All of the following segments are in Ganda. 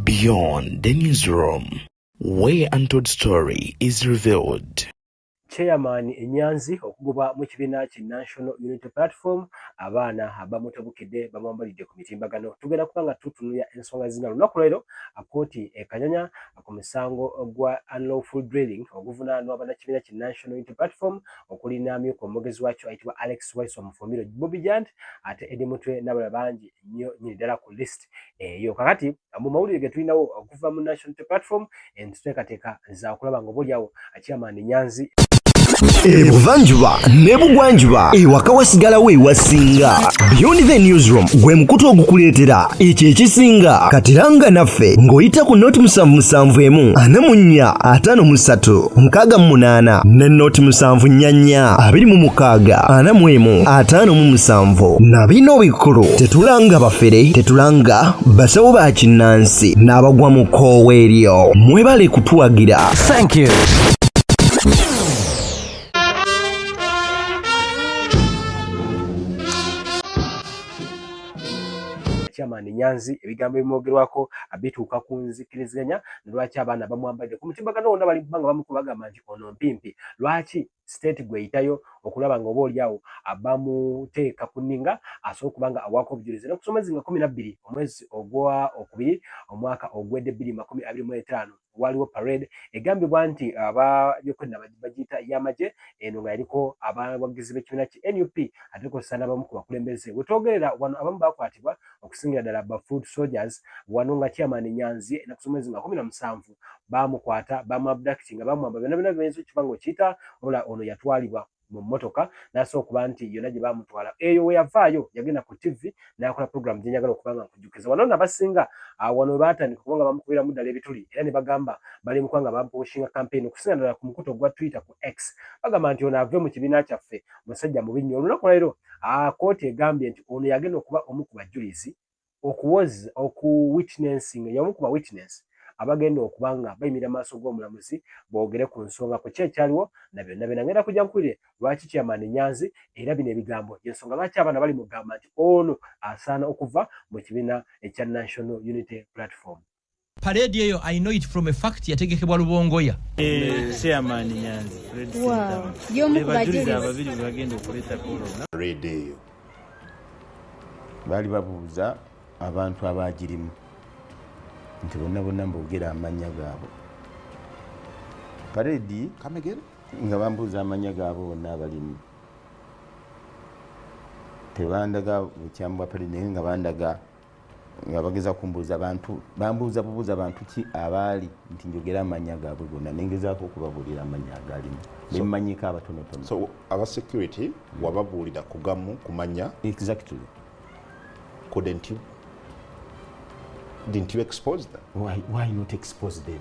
Beyond the newsroom, where untold story is revealed. chairman enyanzi okugoba mu kibiina ki national unity platform abaana abamutabukidde bamwambalidde ku mitimbagano tugenda kuba nga tutunulya ensonga zina lunaku lwero akooti ekanyanya ku musango gwa unlawful drilling oguvunaanwa bannakibiina ki National Unity Platform okuli n'amyuka omwogezi wakyo ayitibwa Alex Waiswa Mufumbiro Bobi Jand ate Eddie Mutwe n'abalala bangi nnyo nyini ddala ku list eyo. Kakati mu mawulire ge tulinawo okuva mu National Unity Platform enteekateeka za kulaba ng'oboolyawo Chairman Nyanzi ebuvanjuba ne bugwanjuba ewaka wasigalawo ewasinga beyond the newsroom gwe mukutu ogukuleetera ekyo ekisinga katiranga naffe ng'oyita ku noti musanvu musanvu emu ana mu nnya ataano mu ssatu mukaaga mu munaana ne noti musanvu nnya nnya abiri mu mukaaga ana mu emu ataano mu musanvu na bino bikulu tetulanga bafere tetulanga basawo ba kinnansi n'abagwa mu koowa eryo mwebale kutuwagira Thank you. chairman Nyanzi ebigambo ebimwogerwako abituuka ku nzikiriziganya lwaki abaana bamwambadde ku mutimbagano wonna bali kubanga bamukuba bagamba nti ono mpimpi lwaki state gweyitayo okulaba nga oba olyawo bamuteeka ku ninga asobola okuba nga awaako obujulizi nokusomezi nga kumi nabbiri omwezi ogwa okubiri omwaka ogwedde bbiri makumi abiri mu etaano waliwo parade egambibwa nti abayokwedda bagiyita yamagye eno nga yaliko abawagizi b'ekibiina ki nup ate kozesa nabamu ku bakulembeze wetwogerera wano abamu bakwatibwa okusingira ddala ba food soldiers wano nga chairman nyanzi enaku z'omwezi nga kumi na musanvu baamukwata baamuabdakiti nga bamwamba byonna byonna byoyinza okiba nga okiyita mula ono yatwalibwa mu mmotoka n'asooka okuba nti yonna gye baamutwala eyo we yavaayo yagenda ku ttivvi n'akola puroguramu gye njagala okuba nga nkujjukiza wano nno abasinga ah, wano we baatandika okuba nga bamukubiramu ddala ebituli era ne bagamba bali mukuba nga bampuushinga kampeyini okusinga ddala ku mukutu ogwa twitter ku x bagamba nti ono ave mu kibiina kyaffe musajja mubi nnyo olunaku lwaliro ah, kkooti egambye nti ono yagenda okuba omu ku bajulizi okuwoza oku witnessing y'omu ku ba witness abagenda okuba nga bayimira maaso g'omulamuzi boogere ku nsonga ku ki ekyaliwo na byonna byonna ngenda kujja nkuwulire lwaki chairman Nyanzi era bino ebigambo y'ensonga lwaki abaana bali mugamba nti ono asaana okuva mu kibiina ekya National Unity Platform. Parade eyo I know it from a fact yategekebwa Lubongoya. Eh, chairman Nyanzi. Wow. Yo mukubajiriza ababiri bagenda okuleta kolo. Parade eyo. Bali babuuza abantu abagirimu. Nti bonna bonna mbogera amanya gaabo. Parade kamegere nga bambuuza amanya gaabo bonna abalimu. Tebandaga bukyambwa parade nga bandaga nga bageza kumbuuza bantu bambuuza bubuuza bantu ki abaali nti njogera amanya gaabwe gonna nengezaako okubabuulira amanya agalimu bemmanyiko abatonotono so aba security mm. wababuulira kugamu kumanya exactly couldn't you didn't you expose them why, why not expose them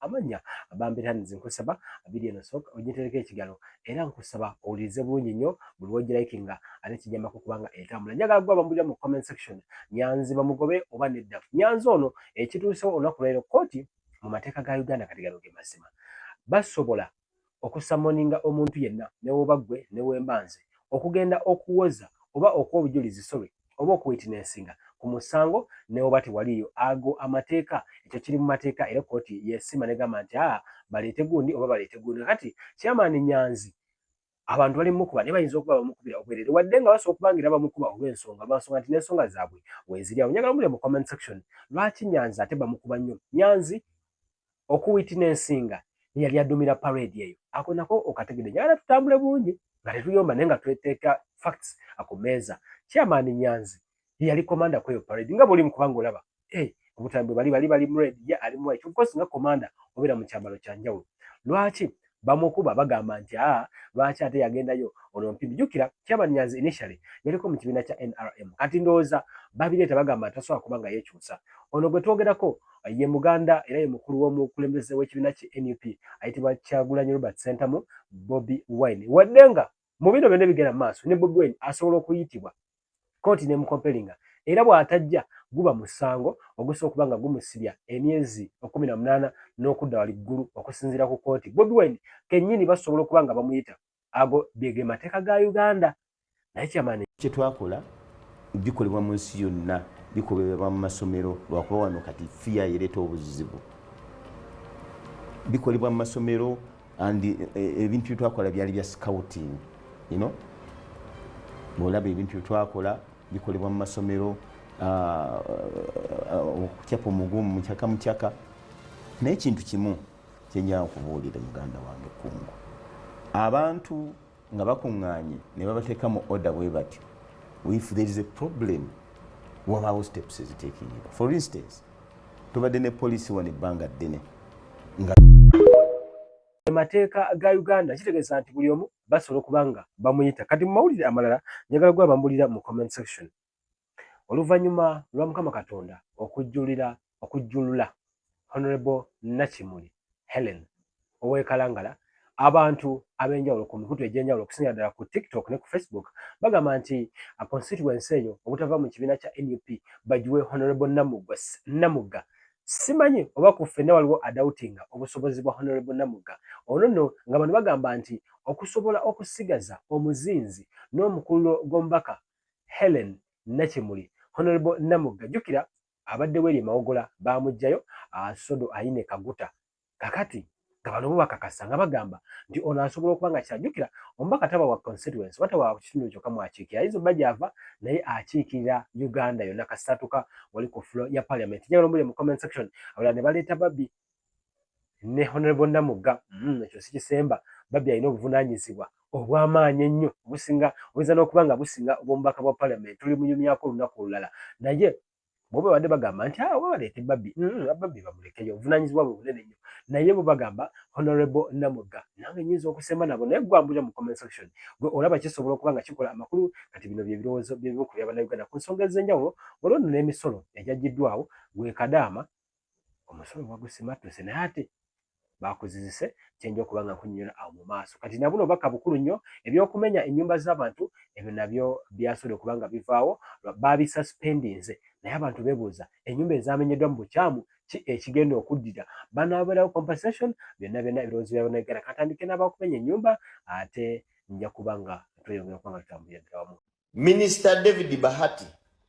amannya abambira nze nkusaba abiri eno soka ojitereka ekigalo era nkusaba owulirize bulungi nnyo buli wogirayikinga ate kijamako kubanga etambula njagala gwa bambulira mu comment section nyanzi bamugobe oba nedda nyanzi ono ekituusewo olunaku lwalero kooti mu mateeka ga uganda kati gano ge mazima basobola okusamoninga omuntu yenna newoba gwe newemba nze, okugenda okuwoza oba okuwa obujulizi sorry oba okuwitinesinga ku musango newoba tewaliyo ago amateeka ekyo kiri mu mateeka era kooti yesima negamba nti aa baleete gundi oba baleete gundi kakati chairman Nyanzi abantu bali mukuba naye bayinza okuba bamukubira obwerere wadde nga basobola okuba ngaera bamukuba olw'ensonga lwansonga nti n'ensonga zaabwe weziri awo njagala mubule mu comment section lwaki nyanzi ate bamukuba nnyo nyanzi okuwiti n'ensinga eyali adumira parade eyo ako nako okategede njagala tutambule bulungi nga tetuyomba naye nga tweteeka facts akumeeza chairman nyanzi yali komanda kweyo parade nga bwolimu kubanga olaba eh, obutambi bali bali bali mred ye ali muwayi kyokka osinga komanda obeera mu kyambalo kya njawulo lwaki bamukuba bagamba nti a ah, lwaki ate yagendayo ono mpimbi jjukira kyabanyanzi initially yaliko mu kibiina kya nrm kati ndowooza babireeta bagamba nti tasobola kuba nga yekyusa ono gwe twogerako ye muganda era ye mukulu w'omukulembeze w'ekibiina ki nup ayitibwa kyagulanyi robert sentamu bobi wine wadde nga mu bino byonna ebigenda mu maaso ne bobi wine asobola okuyitibwa kooti nemukompelinga era bw'atajja guba musango ogusa okuba nga gumusibya emyezi ekkumi na munaana n'okudda wali ggulu okusinziira ku kooti bobi wine kennyini basobola okuba nga bamuyita ago bege mateeka ga uganda naye kyamaani kyetwakola bikolebwa mu nsi yonna bikubebwa mu masomero lwakuba wano kati fiya yereeta obuzibu bikolebwa mu masomero and eh, eh, ebintu byetwakola byali bya scouting you know olaba ebintu byetwakola bikolebwa mu masomero ah, ah, okucapa omugumu mucaka mucaka naye ekintu kimu kyenyaa okubuulira muganda wange kungu abantu nga bakuŋŋaanye ne babateeka mu order bwe batyo if there is a problem wabaawo steps eziteekingibwa for instance tubadde ne poliisi wano ebbanga ddene nga emateeka ga uganda kitegeeza nti buli omu basobola okuba nga bamuyita kati mu mawulire amalala njagala gwe abambulira mu comment section Oluvannyuma lwa Mukama Katonda okujjulira okujjulula Honorable Nakimuli Helen ow'e Kalangala, abantu ab'enjawulo ku mikutu egy'enjawulo okusingira ddala ku TikTok ne ku Facebook bagamba nti constituency eyo obutava mu kibiina kya nup bagiwe Honorable Namugga simanyi oba ku ffenna waliwo adawutinga obusobozi bwa honorable namugga ono nno nga bano bagamba nti okusobola okusigaza omuzinzi n'omukululo gw'omubaka Helen Nakimuli Honorable Namugga jjukira abadde weri mawogola bamujjayo ah, sodo ayine kaguta kakati nga bano bubakakasa nga bagamba nti ono asobola okuba nga kyajjukira omubaka taba wa constituency oba taba wa kitundu kyoka mwakiikira ayinza oba gyava naye akiikirira uganda yonna kasitatuka wali ku fulo ya parliament njagala omuli mu comment section abala ne baleeta babbi ne honorable Namugga mm, ekyo sikisemba babbi alina obuvunanyizibwa obwamaanyi ennyo obusinga oyinza n'okuba nga businga obwomubaka bwa parliament tuli munyumyako olunaku olulala naye bo babadde bagamba nti awo ah, babaleete babbi mm, babbi bamulekeyo obuvunanyizibwa bwe bunene nnyo naye bo bagamba honorable Namugga nange nyinza okusemba nabo naye gwambulira mu comment section gwe olaba kisobola okuba nga kikola amakulu kati bino bye birowoozo byebimu ku byabana uganda ku nsonga ez'enjawulo olwo nno n'emisolo egyagiddwawo gwekadaama omusolo bagusimattuse naye ate bakuzizise kyenja okuba nga nkunyonyola awo mu maaso kati nabuno obubaka bukulu nnyo ebyokumenya ennyumba z'abantu ebyo nabyo byasobola okuba nga bivaawo baabisuspendinze naye abantu bebuuza ennyumba ezamenyeddwa mu bukyamu ki ekigenda okuddira banaaberawo compensation byonna byonna ebirowoozo bya banauganda katandike n'abakumenya ennyumba ate nja kuba nga tweyongera okuba nga tutambulira ddala wamu Minisita David Bahati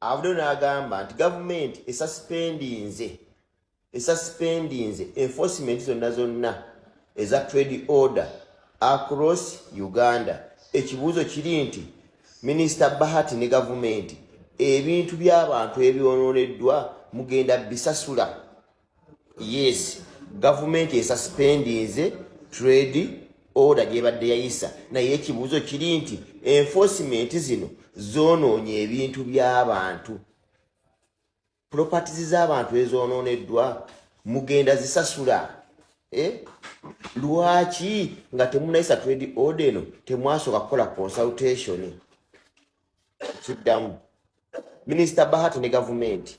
avuddeyo n'agamba nti gavumenti esasipendinze esasipendinze enforcement zonna zonna eza trade order across Uganda. Ekibuuzo kiri nti Minisita Bahati ne gavumenti ebintu by'abantu ebyonooneddwa mugenda bisasula yes gavumenti esaspendinze trade order gyebadde yayisa naye ekibuuzo kiri nti enforcement zino zonoonya ebintu by'abantu properties z'abantu ezonooneddwa mugenda zisasula eh? lwaki nga temunayisa trade order eno temwasooka kukola consultation kiddamu minisita bahati ne gavumenti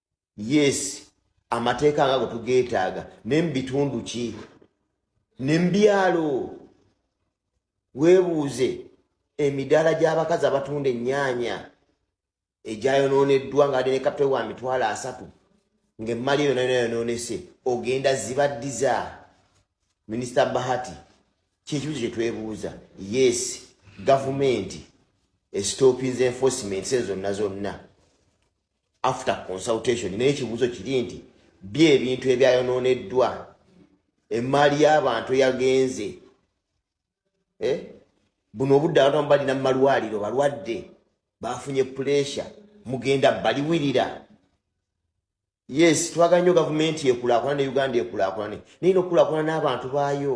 yes amateeka nga gwetugeetaaga naye mubitundu ki ne mubyalo weebuuze emidaala gy'abakazi abatunda ennyaanya egyayonooneddwa nga ade ne kapita wa mitwalo asatu ng'emmali yona yona yonoonese ogenda zibaddiza minisita bahati kyekibuzo kye twebuuza yes gavumenti esitopinze enforcement se zonna zonna after consultation naye ekibuuzo kiri nti bye ebintu ebyayonooneddwa emmaali y'abantu eyagenze eh? buno obudde abantu amu balina mu malwaliro balwadde bafunye puleesha mugenda baliwirira yes twagala nnyo gavumenti ekulakulana ne uganda ekulakulane naye nokulakulana n'abantu baayo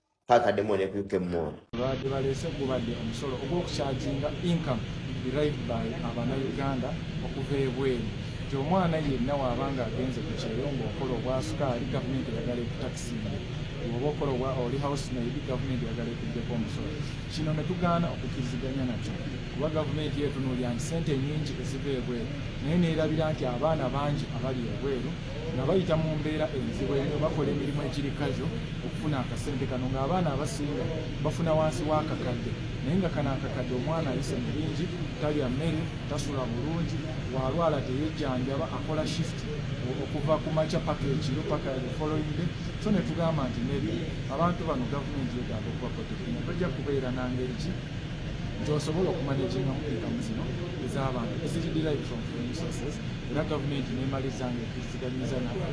paka demo ne kuke mo ba de bale se ku ba de on solo ogo ku charging income derived by abana uganda okuve bwe ti omwana ye na wa banga agenze ku cheyongo okolo bwa suka ali government ya gale ku taxi ogo okolo bwa oli house na ibi government ya gale ku de ko mso chino ne tugana okukiziganya na cho kuba government yetu no ya sente nyingi esive bwe nene ira biranti abana banji abali ebweru nga bayita mu mbeera enzibu enyo bakola emirimu egiri kajo okufuna akasente kano ng'abaana abasinga bafuna wansi w'akakadde naye nga kano akakadde omwana ayise mu bingi talya mmere tasula bulungi walwala teyejjanjaba akola shift okuva ku makya paka ekiro paka following day so ne tugamba nti nebi abantu bano gavumenti yetaaga okubakotekina tojja kubeera nangeri ki gyosobola okumanejingamu ekamu zino ez'abantu eziri derived from foreign sources era gavumenti nemaliza nga ekiriziganyiza nabo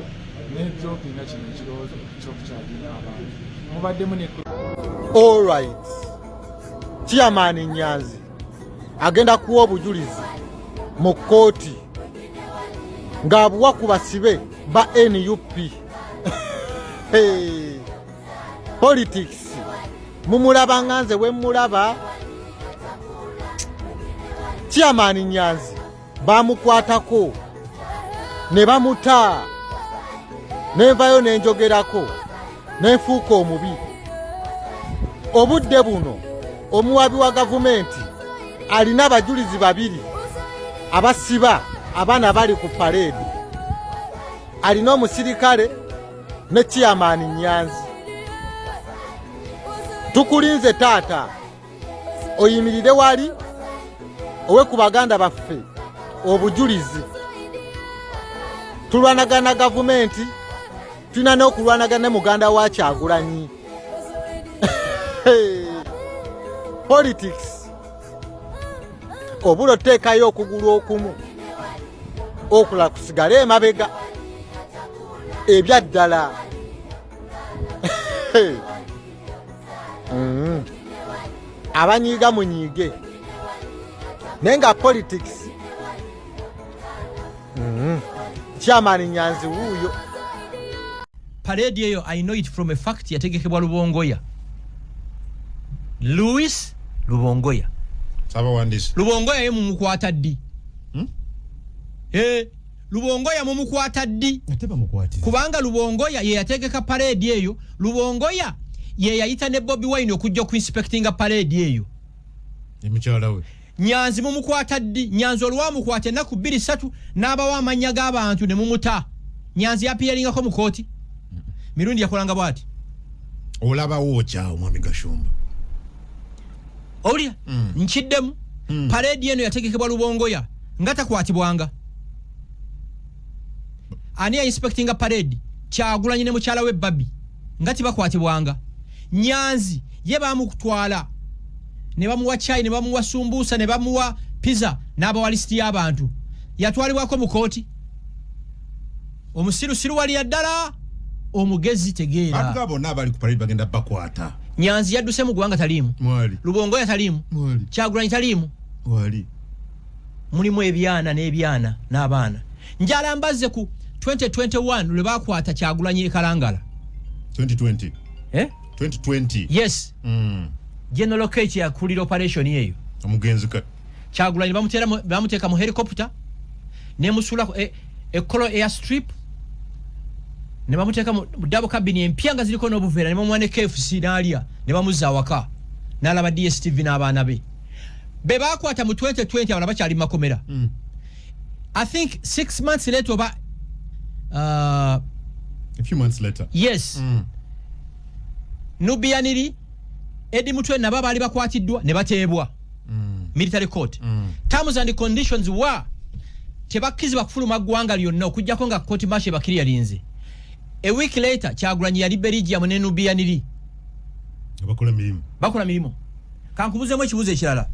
netropi nga kino ekirowoozo kyokukyalina abantu mubaddemu ne allright chairman nyanzi agenda kuwa obujulizi mu kkooti ng'abuwa ku basibe ba nup politics mumulaba nga nze wemulaba chairman nyanzi baamukwatako ne bamuta nenvayo ne njogerako ne nfuuka omubi obudde buno omuwabi wa gavumenti alina abajulizi babiri abasiba abaana bali ku paleedi alina omusirikale ne kiyamaani nyanzi tukulinze taata oyimirire wali owe ku baganda baffe obujulizi tulwanagana gavumenti tulina n'okulwanagana ne muganda wa kyagulanyi politics obula oteekayo okugulu okumu okula kusigale emabega ebyaddala mm-hmm. abanyiiga munyiige naye nga politics mm-hmm. chairman nyanzi wuuyo parade eyo i know it from a fact yategekebwa lubongoya louis lubongoya lubongoya ye mumukwata ddi hmm? eh. lubongoya mumukwata ddi kubanga lubongoya yeyategeka paredi eyo lubongoya yeyayita ne bobi wine okujja okuinspectinga paredi eyo emukyalawe nyanzi mumukwata ddi nyanzi olwamukwata enaku bbiri satu n'abawo amannya g'abantu ne mumuta nyanzi yapiyaringako mu kooti mirundi yakolanga bwati olabawo okyawo mwami gashumba owulira mm. nkiddemu mm. paredi eno yategekebwa lubongoya nga takwatibwanga ani yainspectinga paredi kyagulanyi ne mukyala we babi nga tibakwatibwanga nyanzi ye bamukutwala ne bamuwa chai ne bamuwa sumbusa ne bamuwa piza n'abawalisiti y'abantu yatwalibwako mu kooti omusirusiru waliya ddala omugezi tegeera bonna abali ku parade bagenda bakwata nyanzi yadduse mu ggwanga taliimu lubongoya taliimu kyagulanyi taliimu mulimu ebyana n'ebyana n'abaana njala mbazze ku 2021 lwe bakwata kyagulanyi ekalangala 2020 eh? 2020 yes mm. general kech yakulira operation eyo omugenzi kyagulanyi bamuteeka mu helicopter nemusuula eh, ekkolo air strip ne bamuteeka mu dabo kabini empya nga ziriko n'obuveera ne bamuwa ne kfc n'alya ne bamuzza awaka n'alaba dstv n'abaana be be baakwata mu 2020 abala bakyali mu makomera mm. i think six months later oba uh, a few months later yes mm. nubiyaniri edi mutwe nabo abaali bakwatiddwa ne bateebwa mm. military court mm. terms and conditions were tebakkizibwa kufuluma ggwanga lyonna okujjako nga koti masha ebakiri yalinze a week later kyagulanyi yali berigia munenubiyaniri bakola mirimu bakola mirimu kankubuzemu ekibuzo ekirala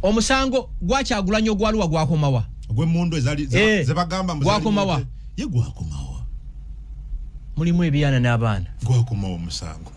omusango gwakyagulanyi ogwaluwa gwakomawa ogwemundu eh, zebagamba gwakomawa ye gwakomawa mulimu ebyana n'abaana gwakomawa omusango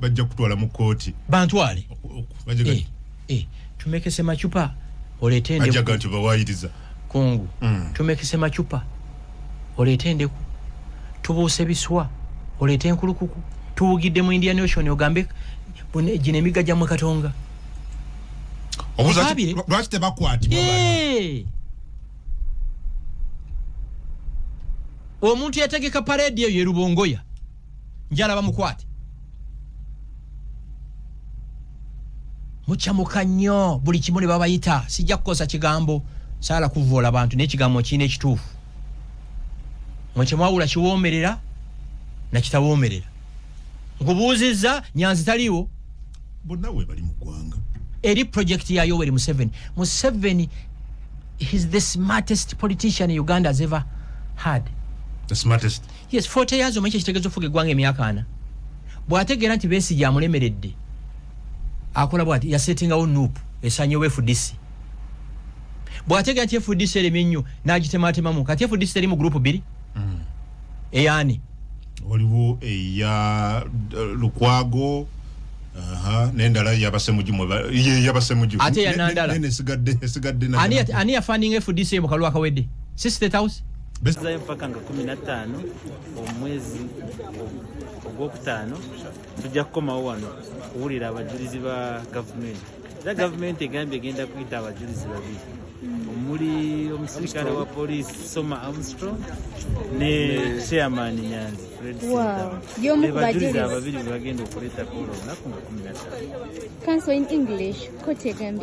bajja kutwala mu kooti bantwale eh, eh, tumekese macupa oleete endeku nti bawayiriza kungu mm. tumekese macupa oleete endeku tubuuse biswa oleete enkulukuku tuwugidde mu indian ocean ogambe gino emigga gyamwe katonga lwaki tebakwatibwa eh. omuntu yategeka paredi eyo yerubongoya njala bamukwate mukyamuka nnyo buli kimu ne babayita sijja kukosa kigambo saala kuvoola bantu naye ekigambo kirina ekituufu mwe kyemwawula kiwoomerera nakitawoomerera nkubuuzizza nyanzi taliiwo bonna webali mu ggwanga eri projekiti ya yoweri museveni museveni his the smartest politician uganda has ever had the smartest yes 40 years omanyi kyekitegeza ofuga eggwanga emyaka ana bw'ategeera nti besigye amulemeredde akola bwati yasetingawo nup esanyewo fdc bw'ategeera nti fdc eremye ennyo n'agitematemamu kati fdc teri mu gurupu bbiri mm. eyani waliwo eya eh, lukwago nendala yabasemujuyabasemuju ate yanandala esigadde esigadde ani yafaninga fdc mu kalwa kawedde si state house zayo mpaka nga kumi na ttaano omwezi ogwokutaano tujja kukomawo wano kuwulira abajulizi ba gavumenti era gavumenti egambye egenda kuyita abajulizi babiri omuli omusirikale wa polisi soma armstrong ne chairman nyanzi fredbebajulizi ababiri bebagenda okuleeta kuola olunaku nga kumi na ttaano